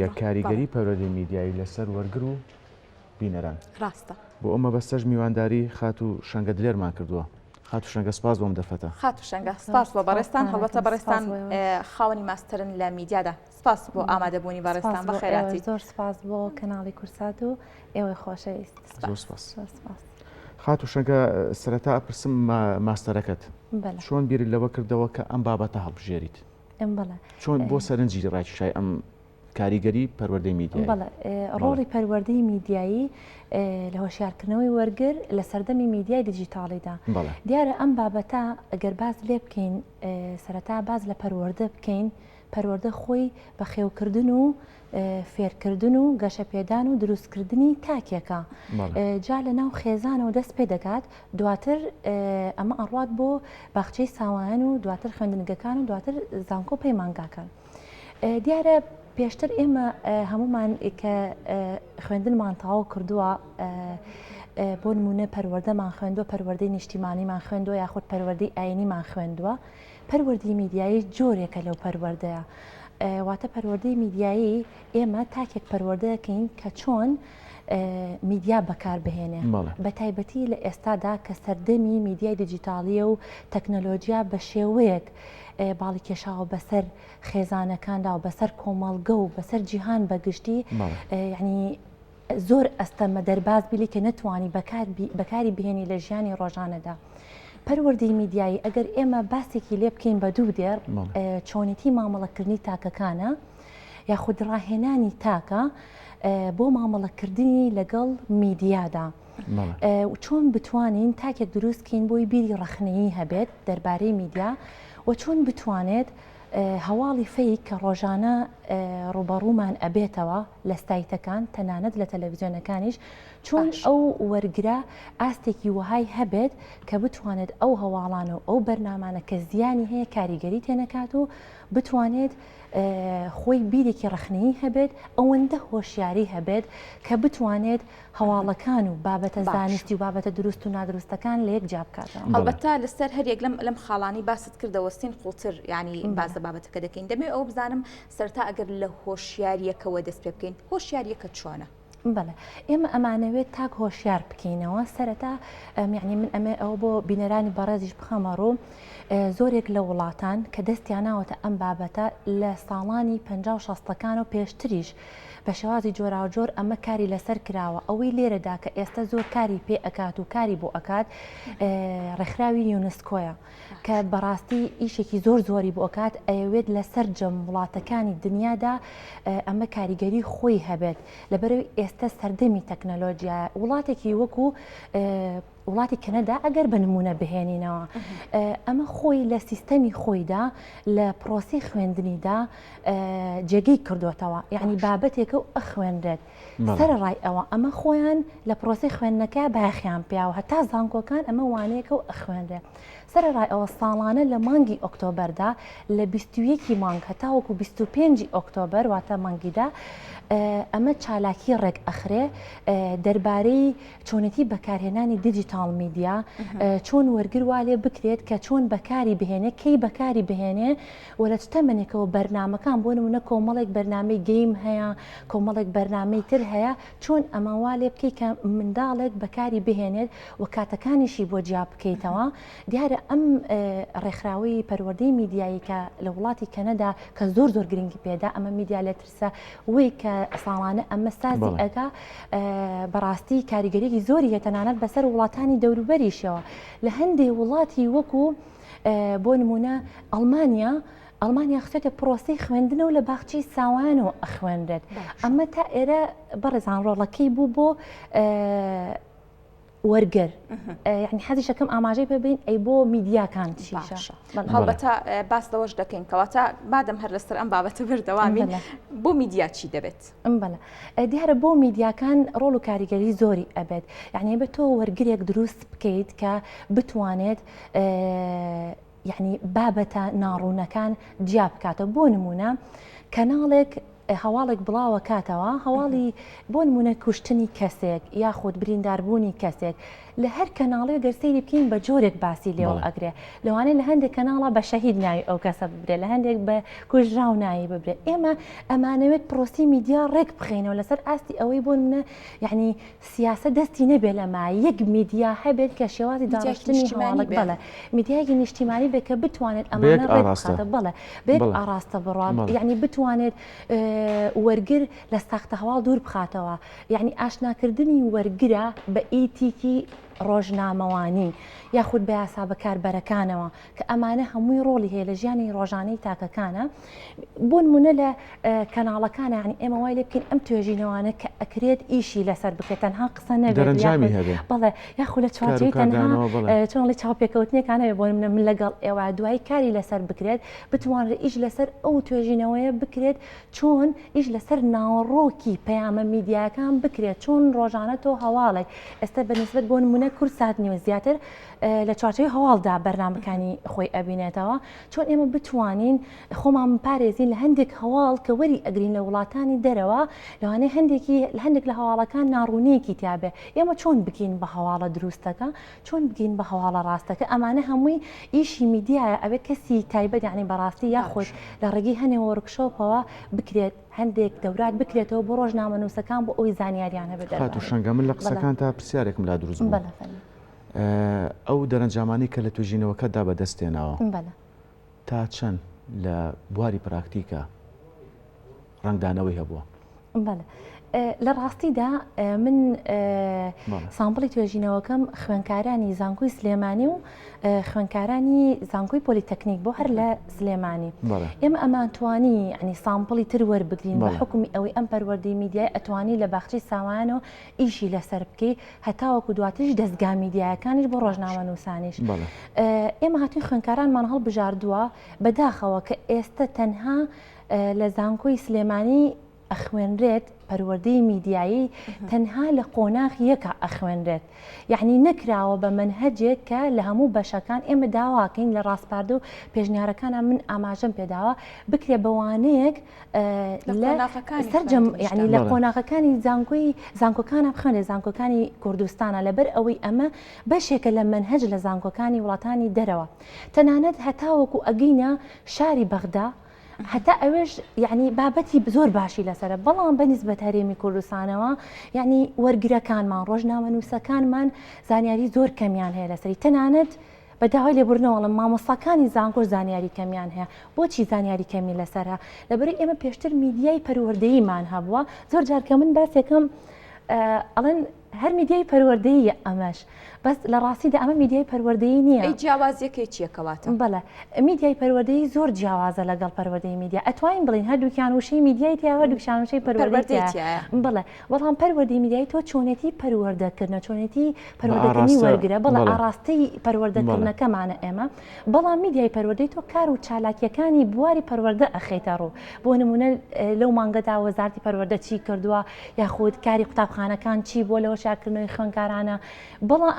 یە کاریگەری پەروەردەی میدیایی لە سەر وەرگر و بینەران. ڕاستە. بۆ ئەو مەبەستەش میوانداری خاتوو شەنگە دلێرمان کردووە. خاتوو شەنگە سپاس بۆم دەفەتە. خاتوو شەنگە سپاس بۆ بەڕێزتان، هەڵبەتە بەڕێزتان خاوەنی ماستەرن لە میدیادا. سپاس بۆ ئامادە بوونی بەڕێزتان بە خێراتی. زۆر سپاس بۆ کەناڵی کورسات و ئێوەی خۆشەویست. زۆر سپاس. زۆر سپاس. خاتوو شەنگە سەرەتا ئەپرسم ماستەرەکەت چۆن بیرت لەوە کردەوە کە ئەم بابەتە هەڵبژێریت؟ چۆن بۆ سەرنجی ڕاکیشای ئەم کاریگەری پەروەردەی میدیای ڕۆڵی پەروەردەی میدیایی لە هۆشیارکردنەوەی وەرگر لە سەردەمی میدیای دیجیتاڵیدا دیارە ئەم بابەتە ئەگەر باز لێ بکەین سەرەتا باز لە پەروەردە بکەین پەروەردە خۆی بە خێوکردن و فێرکردن و گەشەپێدان و دروستکردنی تاکێکە جا لە ناو خێزانەوە دەست پێ دەکات دواتر ئەمە ئەڕات بۆ باخچەی ساوایان و دواتر خوێندنگەکان و دواتر زانکۆ پەیمانگاکان دیارە پێشتر ئێمە هەمومان کە خوێندنمان تاوا کردووە بۆ نمونە پەروەردەمان خوێندوە پەروەردەی نیشتیمانیمان خوێندوە یاخود پەروەردەی ئاینیمان خوێندووە پەروەردەی میدیایی جۆرێکە لەو پەروەردەیە. واتە پەروەردەی میدیایی ئێمە تاکێک پەروەردەکەین کە چۆن میدیا بەکار بهێنێ بە تایبەتی لە ئێستادا کە سەردەمی میدیای دیجیتاالیە و تەکنەلۆژیا بە شێوەیەک باڵی کێشاوە بەسەر خێزانەکاندا و بەسەر کۆمەڵگە و بەسەر جیهان بەگشتی ینی زۆر ئەستەمە دەرباز بیلی کە نەتوانی بەکاری بهێنی لە ژیانی ڕۆژانەدا. پەروەردەی میدیایی ئەگەر ئێمە باسێکی لێ بکەین بە دوو دێر چۆنێتی مامەڵەکردنی تاکەکانە یاخود ڕاهێنانی تاکە بۆ مامەڵەکردنی لەگەڵ میدیادا. چۆن بتوانین تاکێک دروستکەین بۆی بیری ڕخنەیی هەبێت دەربارەی میدیا و چۆن بتوانێت هەواڵی فەیک کە ڕۆژانە ڕووبەڕوومان ئەبێتەوە لە ستایتەکان تەنانەت لە تەلەڤزیۆنەکانیش چۆن ئەو وەرگرە ئاستێکی وەهای هەبێت کە بتوانێت ئەو هەواڵانە و ئەو بەرنامانە کە زیانی هەیە کاریگەری تێنەکات و بتوانێت خۆی بیرێکی ڕخنەیی هەبێت ئەوەندە هۆشیاری هەبێت کە بتوانێت هەواڵەکان و بابەتە زانستی و بابەتە دروست و نادروستەکان لە یەک جیا بکاتەوە. هەڵبەتە لەسەر هەر یەک لەم لەم خاڵانی باست کردەوە سین قوڵتر ینی باز لە بابەتەکە دەکەین دەمێ ئەو بزانم سەرتا ئەگەر لە هۆشیاریەکەوە دەست پێ بکەین هۆشیاریەکە چۆنە؟ بەڵێ ئێمە ئەمانەوێت تاک هۆشیار بکەینەوە سەرەتا میعنی من ئەمێ ئەوە بۆ بینەرانی بەڕێزیش بخەمە ڕوو زۆرێک لە وڵاتان کە دەستیانناوەتە ئەم بابەتە لە ساڵانی پ شەستەکان و پێشتریش بە شێوازی جۆراوجۆر ئەمە کاری لەسەر کراوە ئەوەی لێرەدا کە ئێستا زۆر کاری پێ ئەکات و کاری بۆ ئەکات ڕێکخراوی یونسکۆیە کە بەڕاستی ئیشێکی زۆر زۆری بۆ ئەکات ئەیەوێت لە سەررجەم وڵاتەکانی دنیادا ئەمە کاریگەری خۆی هەبێت لەبەرەوەی ئێستا سەردەمی تەکنەلۆژیای وڵاتێکی وەکو وڵاتی کەنەدا ئەگەر بە نمونە بهێنینەوە ئەمە خۆی لە سیستەمی خۆیدا لە پرۆسی خوێندنیدا جێگەی کردوێتەوە یعنی بابەتێکە و ئەخوێنرێت سەرڕای ئەوە ئەمە خۆیان لە پرۆسی خوێندنەکە باخیان پیاوە هەتا زانکۆکان ئەمە وانەیەکە و ئەخوێنرێت سەرڕای ئەوە ساڵانە لە مانگی ئۆکتۆبەردا لە 21 مانگ هەتاوەکو 25 ئۆکتۆبەر واتە مانگیدا ئەمە چالاکی ڕێک ئەخرێ دەربارەی چۆنێتی بەکارهێنانی دیجیتاڵ میدیا چۆن وەرگر وا لێ بکرێت کە چۆن بەکاری بهێنێ کەی بەکاری بهێنێ و لە تەمەێکەوە بەرنمەکان بۆ نمونە کۆمەڵێک بەرنمەی گەیم هەیە کۆمەڵێک بەرنمەی تر هەیە چۆن ئەمەوا لێ بکەیت کە منداڵێک بەکاری بهێنێت و کاتەکانیشی بۆ جیا بکەیتەوە دیارە ئەم ڕێکخراوی پەروەردەی میدیایی کە لە وڵاتی کەنەدا کە زۆر زۆر گرنگی پێدا ئەمە میدیا لە سە وەی کە ساڵانە ئەمە سازی بەڵێ ئەکا ئە بەڕاستی کاریگەریی زۆری هەیە تەنانەت بەسەر وڵاتانی دەوروبەریشەوە لە هەندێ وڵاتی وەکو ئە بۆ نمونە ئەڵمانیا ئەڵمانیا خچێتە پرۆسەی خوێندنە و لە باخچەی ساوایان و ئەخوێنرێت باشە ئەمە تا ئێرە بەڕێزان ڕۆڵەکەی بوو بۆ ئە وەرگر یعنی حەزیشەکەم ئاماژەی پێبین ئەی بۆ میدیاکان هەڵبەتە باس لەوەش دەکەین کەواتە بادەم هەر لەسەر ئەم بابەتە بردەوامین بۆ میدیا چی دەبێت ئەم بەە دیارە بۆ میدیاکان ڕۆڵ و کاریگەری زۆری ئەبێت یعنی بە تۆ وەرگێک دروست بکەیت کە بتوانێت یەعنی بابەتە ناڕوونەکان جیا بکاتەوە بۆ نموونە کەناڵێک هەواڵێک بڵاوە کاتەوە هەواڵی بۆ نمونە کوشتنی کەسێک یاخود برینداربوونی کەسێک لە هەر کەناڵی گەر سەیری بکەین بە جۆرێک باسی لێەوە ئەگرێ لەوانەیە لە هەندێک کەناڵە بە شەهید ناوی ئەو کەسە ببرێت لە هەندێک بە کوژراو ناوی ببرێت ئێمە ئەمانەوێت پرۆسی میدیا ڕێک بخینەوە لەسەر ئاستی ئەوەی بۆ منە یعنی سیاسەت دەستی نەبێ لەما یەک میدیا هەبێت کە شێوازی داڕشتنی هەواڵک بڵێ میدیایەکی نیشتیمانی بێ کە بتوانێت ئەمانە ڕێبخاتە بڵێ بێت ئاراستە بڕوان یعنی بتوانێت وەرگر لە ساختە هەواڵ دوور بخاتەوە یعنی ئاشناکردنی وەرگرە بە ئیتیکی ڕۆژنامەوانی یاخود بە یاسا بەکاربەرەکانەوە کە ئەمانە هەمووی ڕۆڵی هەیە لە ژیانی ڕۆژانەی تاکەکانە بۆ نمونە لە کەناڵەکان ینی ئێمە وای لێ بکەین ئەم توێژینەوانە کە ئەکرێت ئیشی لەسەر بکرێت تەنها قسە نەبێتجامی هەبێ بەڵێ یاخو لە چوارچوی تەنها چۆنڵی چاوپێکەوتنێکانەوێ بۆ منە من لەگەڵ ئێوە دوای کاری لەسەر بکرێت بتوانرە ئیش لەسەر ئەو توێژینەوەیە بکرێت چۆن ئیش لەسەر ناوەڕۆکی پەیامە میدیاکان بکرێت چۆن ڕۆژانە تۆ هەواڵێک ئێستا بەنسبت بۆ نمونە کورسات نیوە زیاتر لە چوارچێوەی هەواڵدا بەرنامەکانی خۆی ئەبینێتەوە چۆن ئێمە بتوانین خۆمان پارێزین لە هەندێک هەواڵ کە وەری ئەگرین لە وڵاتانی دەرەوە لەوانەیە هەندێکی لە هەندێک لە هەواڵەکان ناڕوونیەکی تیاابێ ئێمە چۆن بکەین بە هەواڵە دروستەکە چۆن بگین بە هەواڵە ڕاستەکە ئەمانە هەمووی ئیشی میدیایە ئەوێ کەسی تایبەت یعنی بەڕاستی یاخۆش لە ڕێگەی هەنێ وەرکشۆپەوە بکرێت هەندێک دەورات بکرێتەوە بۆ ڕۆژنامە نووسەکان بۆ ئەوی زانیاریان هەبێت شەنگە من لە قسەکان تا پرسیارێکم لا دروست بەڵێ ئەو دەرەنجامانەی کە لە توێژینەوەکەتدا بەدەستتێناوە تا چەند لە بواری پراکتیکە ڕنگدانەوەی هەبووە. لە ڕاستیدا من سامپڵی توێژینەوەکەم خوێنکارانی زانکۆی سلێمانی و خوێنکارانی زانکۆی پۆلیتەکنیک بۆ هەر لە سلێمانی ئێمە ئەمانتوانی ینی سامپڵی تر وەربگرین بە حکومی ئەوەی ئەم پەروەردەی میدیای ئەتوانی لە باخچی ساوانەوە ئیشی لەسەر بکەی هەتاوەکو دواتریش دەستگا میدیایەکانیش بۆ ڕۆژنامە نووسانیش ئێمە هاتووی خوێنکارانمان هەڵبژاردووە بەداخەوە کە ئێستا تەنها لە زانکۆی سلێمانی ئەخوێنرێت پەروەردەی میدیایی تەنها لە قۆناغ یەکە ئەخوێنرێت یعنی نەکراوە بە منهجێک کە لە هەموو بەشەکان ئێمە داواکەین لە ڕاستپاردە و پێشنیارەکانە من ئاماژەم پێداوە بکرێ بەوانەیەک سەررجەم ینی لە قۆناغەکانی زانکۆی زانکۆکانە بخوێنێ زانکۆکانی کوردستانە لەبەر ئەوەی ئەمە بەشێکە لە منهج لە زانکۆکانی وڵاتانی دەرەوە تەنانەت هەتاوەکو ئەگەینە شاری بەغدا هەتا ئەوێش یعنی بابەتی زۆر باشی لەسرە بەڵام بە نسبەت هەرێمی کوردستانەوە یعنی وەرگرەکانمان ڕۆژنامە نووسەکانمان زانیاری زۆر کەمیان هەیە لەسری تەنانەت بە داوای لێبوردنەوە ئەڵێم مامۆستاکانی زانکۆش زانیاری کەمیان هەیە بۆچی زانیاری کەمی لەسەر هە لەبەرەی ئێمە پێشتر میدیای پەروەردەیمان هەبووە زۆر جار کە من باسێکم ئەڵێن هەر میدیای پەروەردەیە ئەمەش بەس لە ڕاستیدا ئەمە میدیای پەروەردەی نییە ئەی جیاوازیەکەی چیەکەواتە بەڵێ میدیای پەروەردەی زۆر جیاوازە لەگەڵ پەروەردەی میدیا ئەتوانین بڵین هەردووکیان وشەی میدیای تیاوە دووشان وشەی پەروەردەی بڵێ بەڵام پەروەردەی میدیایی تۆ چۆنێتی پەروەردەکردنە چۆنێتی پەروەردەکردنی وەرگرە بەڵ ئاڕاستەی پەروەردەکردنەکەمانە ئێمە بەڵام میدیای پەروەردەی تۆ کار و چالاکیەکانی بواری پەروەردە ئەخیتە ڕوو بۆ نمونە لەو مانگەدا وەزارتی پەروەردە چی کردووە یاخود کاری قوتابخانەکان چی بۆ لەوە شاکردنەوەی خوێنکارانە بەڵام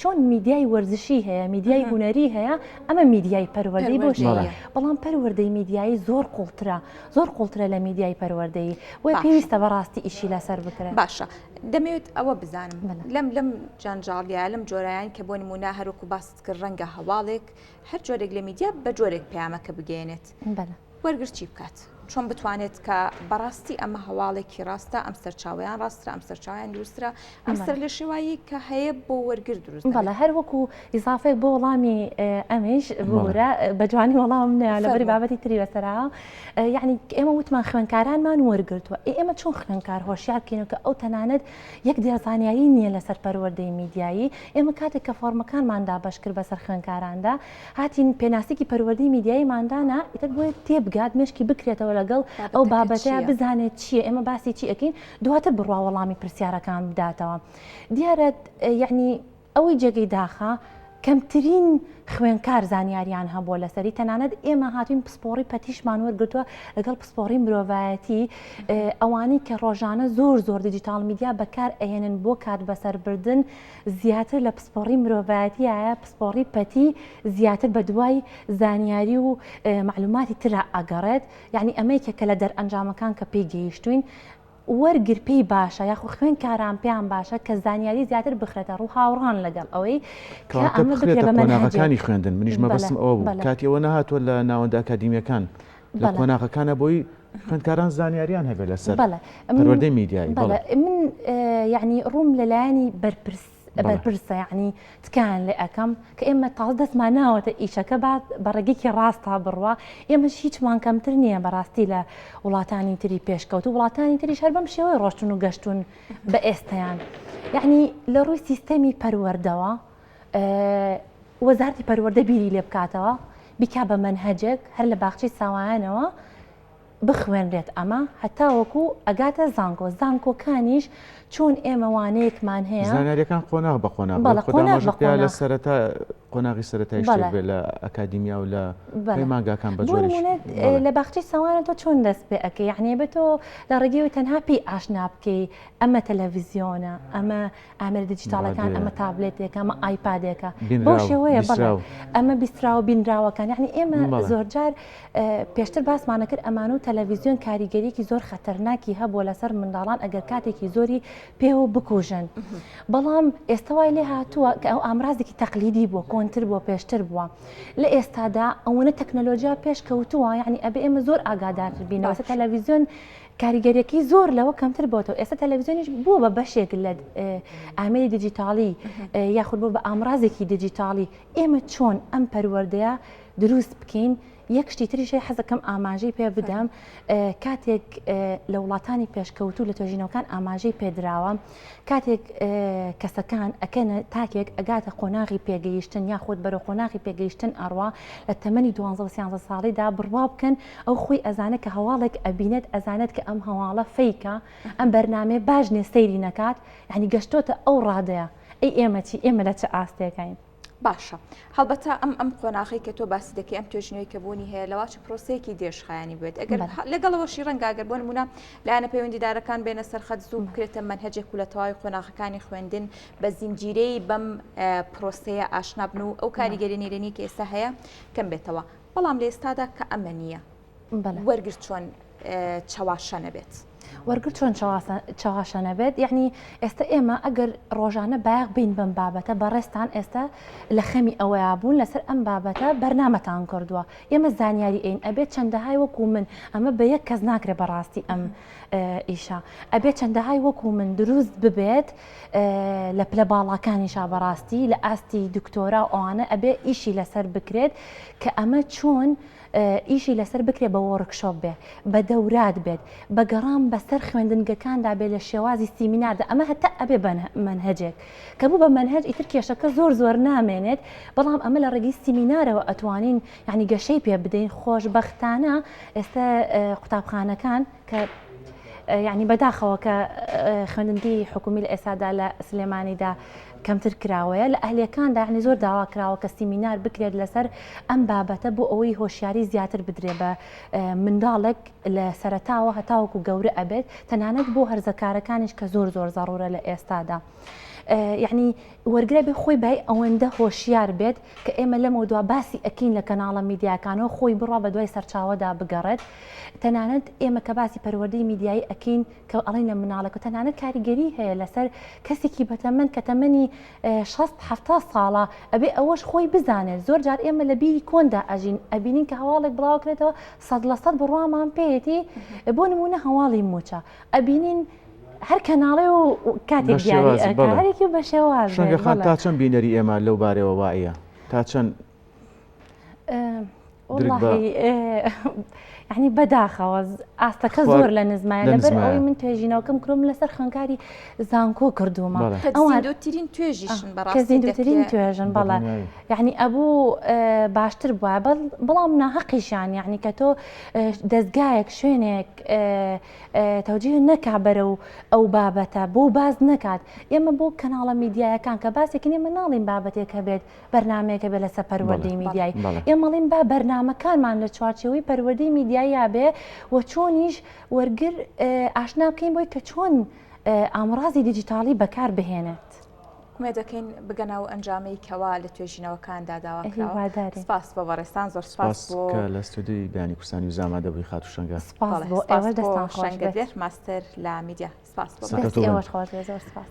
چۆن میدیای وەرزشی هەیە میدیای هوەری هەیە ئەمە میدیای پەروەردەی بۆ بەڵام پەروەردەی میدیایی زۆر قوڵترە زۆر قوڵترە لە میدیای پەروەردەیی وە پێویستە بەڕاستی ئیشی لەسەر بکرێت باشە دەمەوێت ئەوە بزانم لەم لەم جانجاڵیا لەم جۆرایان کە بۆ نمونا هەروکو باست کرد ڕەنگە هەواڵێک هەر جۆرێک لە میدیا بە جۆرێک پامەکە بگەێنێت وەرگرچی بکات چۆن بتوانێت کە بەڕاستی ئەمە هەواڵێکی ڕاستە ئەم سەرچاویان ڕاسترا ئەم سەرچاویان دروسترا ئەم سەرلێشێوایی کە هەیە بۆ وەرگر دروست بەڵە هەر وەکو ئیزافێک بۆ وەڵامی ئەمیش بورە بە جوانی وەڵام نیا لە بەری بابەتی تری بەسەرا یعنی ئێمە وتمان خوێنکارانمان وەرگرتووە ئێمە چۆن خوێنکار هۆشیار کینەکە ئەو تەنانەت یەک دێزانیایی نییە لەسەر پەروەردەی میدیایی ئێمە کاتێک کە فۆرمەکانماندا بەشکرد بەسەر خوێنکاراندا هاتین پێناسێکی پەروەردەی میدیایی مادانا ئیتر بۆی تێبگات مشکی بکرێتەوە لەگەڵ ئەو بابەتەیە بزانێت چیە ئێمە باسی چی ئەەکەین دواتر بڕوا وەڵامی پرسیارەکان بداتەوە دیارە یعنی ئەوەی جێگەی داخە کەمترین خوێنکار زانیاریان هەبووە لەسەری تەنانەت ئێمە هاتوین پسپۆڕی پەتیشمان وەرگتووە لەگەڵ پسپۆڕی مرۆڤایەتی ئەوانی کە ڕۆژانە زۆر زۆر دیجیتال میدیا بەکار ئەهێنن بۆ کات بەسەربردن زیاتر لە پسپۆڕی مرۆڤایەتی ئایا پسپۆڕی پەتی زیاتر بە دوای زانیاری و معلوماتی تررا ئەگەڕێت یعنی ئەمەیکە کە لە دەرئەنجامەکان کە پێی گەیشتوین وەرگر پێی باشە یاخو خوێن کاران پێیان باشە کە زانیاری زیاتر بخرێتە ڕوو هاوڕان لەگەڵ ئەوەی کانی خوێندن منیش مەبەسم ئەوە بوو کاتی ئەوە نهاتوە لە ناوەندە ئەکادیمیەکان لە قۆناغەکانە بۆی خوێندکاران زانیاریان هەبێت لەسەر پەروەردەی میدیایی من یعنی ڕووم لەلایەنی بەرپرس بەرپرسە یعنی تکایان لێ ئەەکەم کە ئێمە تاڵ دەستمان ناوەتە ئیشەکە بعد بە ڕێگەیکی ڕاستە بڕوا ئێمەش هیچمان کەمتر نییە بەڕاستی لە وڵاتانی تری پێشکەوت و وڵاتانی تری شەر بەم شێوەی ڕۆشتون و گەشتون بە ئێستیان یعنی لە ڕووی سیستەمی پەروەردەوە وەزارتی پەروەردە بیری لێ بکاتەوە بیکا بە منهجێک هەر لە باخچەی ساوایانەوە بخوێنرێت ئەمە هەتاوەکو ئەگاتە زانکۆ زانکۆکانیش چۆن ئێمە وانەیەکمان هەیە زانیاریەکان قۆناغ بە قۆناغ لە سەرەتا قۆناغی سەرەتای شتێک لە ئەکادیمیا و لە ماگاکان بە لە باخچی ساوانە تۆ چۆن دەست پێ ئەەکە یعنی بە تۆ لە ڕێگەوە تەنها پێی ئاشنا بکەی ئەمە تەلەڤزیۆنە ئەمە ئامێرە دیجیتاڵەکان بەڵێ. ئەمە تابلێتێکە ئەمە ئایپادێکە بەو بینراو شێوەیە بەڵێ بیسراو ئەمە بیستراوە بینراوەکان یعنی ئێمە بەڵێ زۆرجار اه، پێشتر باسمانە کرد ئەمانە و تەلەڤیزیۆن کاریگەریەکی زۆر خەتەرناکی هەبووە لەسەر منداڵان ئەگەر کاتێکی زۆری پێوە بکوژن بەڵام ئێستا وای لێ هاتووە کە ئەو ئامرازێکی تەقلیدی بووە کۆنتر بووە پێشتر بووە لە ئێستادا ئەوەنە تەکنەلۆژیا پێش کەوتووە یعنی ئەبێ ئێمە زۆر ئاگادارتر بینەوە سەر باش تەلەڤیزیۆن کاریگەریەکەی زۆر لەوە کەمتر بۆتەوە ئێستا تەلەڤزیۆنیش بووە بە بەشێک لە ئامری دیجیتاڵی یاخود بۆ بە ئامرازێکی دیجیتاڵی ئێمە چۆن ئەم پەروەردەیە دروست بکەین یەک شتی تریشی حەزەکەم ئاماژەی پێ بدەم کاتێک لە وڵاتانی پێشکەوتو لە توێژینەوەکان ئاماژەی پێدراوە کاتێک کەسەکان ئەکەنە تاکێک ئەگاتە قۆناغی پێگەیشتن یاخود بەرە قۆناغی پێگەیشتن ئەڕوا لە تەمەنی 12 سیانزە ساڵیدا بڕوا بکەن ئەو خۆی ئەزانێت کە هەواڵێک ئەبینێت ئەزانێت کە ئەم هەواڵە فەیکە ئەم بەرنامەیە باش نیە سەیری نەکات یعنی گەشتۆتە ئەو ڕادەیە ئەی ئێمە چی ئێمە لە چ ئاستێکین باشە هەڵبەتە ئەم ئەم قۆناغی کە تۆ باسی دەکەی ئەم توێژنەوەی کە بوونی هەیە لەواچ پرۆسەیەکی دێژخایانی بێت ئەگەر لەگەڵەوەشی ڕەنگاگەر بۆن مونە لایەنە پەیوەندیدارەکان بێنە سەرخەت زوو بکرێتە منهجێک و لە تەواوی قۆناغەکانی خوێندن بە زنجیرەی بەم پرۆسەیە ئاشنابن و ئەو کاریگەری نێرێنی کە ئێستا هەیە کەم بێتەوە بەڵام لە ئێستادا کە ئەمە نییە وەرگر چۆن چەواشە نەبێت. وەرگر چۆن چاواشە نەبێت یعنی ئێستا ئێمە ئەگەر ڕۆژانە باغ بین بەم بابەتە بەڕێستان ئێستا لە خەمی ئەوەیە بوون لەسەر ئەم بابەتە بەرنمەتان کردووە ئێمە زانیاری ئەین ئەبێت چەندەهای وەکو من ئەمە بە یەک کەس ناکرێ بەڕاستی ئەم ئیشە ئەبێت چەندەهای وەکو من دروست ببێت لە پلە باڵاکانیشا بەڕاستی لە ئاستی دکتۆرا و ئەوانە ئەبێ ئیشی لەسەر بکرێت کە ئەمە چۆن ئیشی لەسەر بکرێت بە وۆڕکشۆپ بێ بە دەورات بێت بە گەڕام بەسەر خوێندنگەکاندا بێ لە شێوازی سیمیناردا ئەمە هەتا ئەبێ بەمەنهجێک کە بوو بە مەنهج ئیتر کێشەکە زۆر زۆر نامێنێت بەڵام ئەمە لە ڕێگەی سیمینارەوە ئەتوانین یعنی گەشەی پێ بدەین خۆشببختانە ئێستا قوتابخانەکان کە یعنی بەداخەوە کە خوێندنی حکومی لە ئێسادا لە سلێمانیدا کەمتر کراوەیە لە ئەهلەکاندا عنی زۆر داوا کراوە کە سیمینار بکرێت لەسەر ئەم بابەتە بۆ ئەوەی هۆشیاری زیاتر بدرێ بە منداڵێک لە سەرتاوە هەتاوەکو گەورە ئەبێت تەنانەت بۆ هەرزەکارەکانیش کە زۆر زۆر زەڕورە لە ئێستادا. یعنی وەرگرە بێ خۆی بای ئەوەندە هۆشیار بێت کە ئێمە لەمەوە دو باسی ئەکین لە کەناڵە میدیاکانەوە خۆی بڕا بە دوای سەرچاوەدا بگەڕێت تەنانەت ئێمە کە باسی پەروەردەی میدیایی ئەکین کە ئەڵینە مناڵەکە تەنانەت کاریگەری هەیە لەسەر کەسێکی بەتەمەن کە تەمەنی 16 ساڵە ئەبێ ئەوەش خۆی بزانێت زۆر جار ئێمە لە بیری کۆندا ئەژین ئەبینین کە هەواڵێک بڵاوکرێتەوە سەد لە سەد بڕوامان پێێتی بۆ نمونە هەواڵی موچە ئەبینین هەر کەناڵێ و کاتێک دیارێکی بە شێواز شەنگەخان تا چەند بینەری ئێمە لەو بارەوە وایە تا چەند ینی بەداخەوە ئاستەکە زۆر لە نزمایە لەبەر ئەوی من توێژینەوەکەم کرۆم لەسەر خەنکاری زانکۆ کردوومە ئەوترین توێژیشن بەڕاستترین توێژن بەڵە یعنی ئەبوو باشتر بووە بەڵام ناهقیشان یعنی کە تۆ دەستگایەک شوێنێک تەوجیه نەکا بەرەو ئەو بابەتە بۆ باس نەکات ئێمە بۆ کەناڵە میدیایەکان کە باسێکن ئێمە ناڵین بابەتێک هەبێت بەرنمەیەکە بێت لەسە پەروەردەی میدیایی ئێمەڵین با بەرنمەکانمان لە چوارچەوەی پەروەردەی میدیاییا بێ و چۆنیش وەرگر ئاشنا بکەین بۆی کە چۆن ئامرازی دیجیتاڵی بەکار بهێنێت. ئومێد دەکەین بگەنە ئەو ئەنجامەی کەوا لە توێژینەوەکاندا داوا کراوە هیوادارین. سپاس بۆ بەڕێزتان زۆر سپاس سپاس بۆ کە لە ستۆدیۆی بیانی کوردستانی و زامادە بووی خاتوو شەنگە. سپاس بەڵێ بۆ سپاس ئێوەش بۆ دەستتان خۆش بێت. شەنگەدێر ماستەر لە میدیا سپاس بۆ سەرکەوتوو دەستی بن. ئێوەش خۆش بێت زۆر سپاس.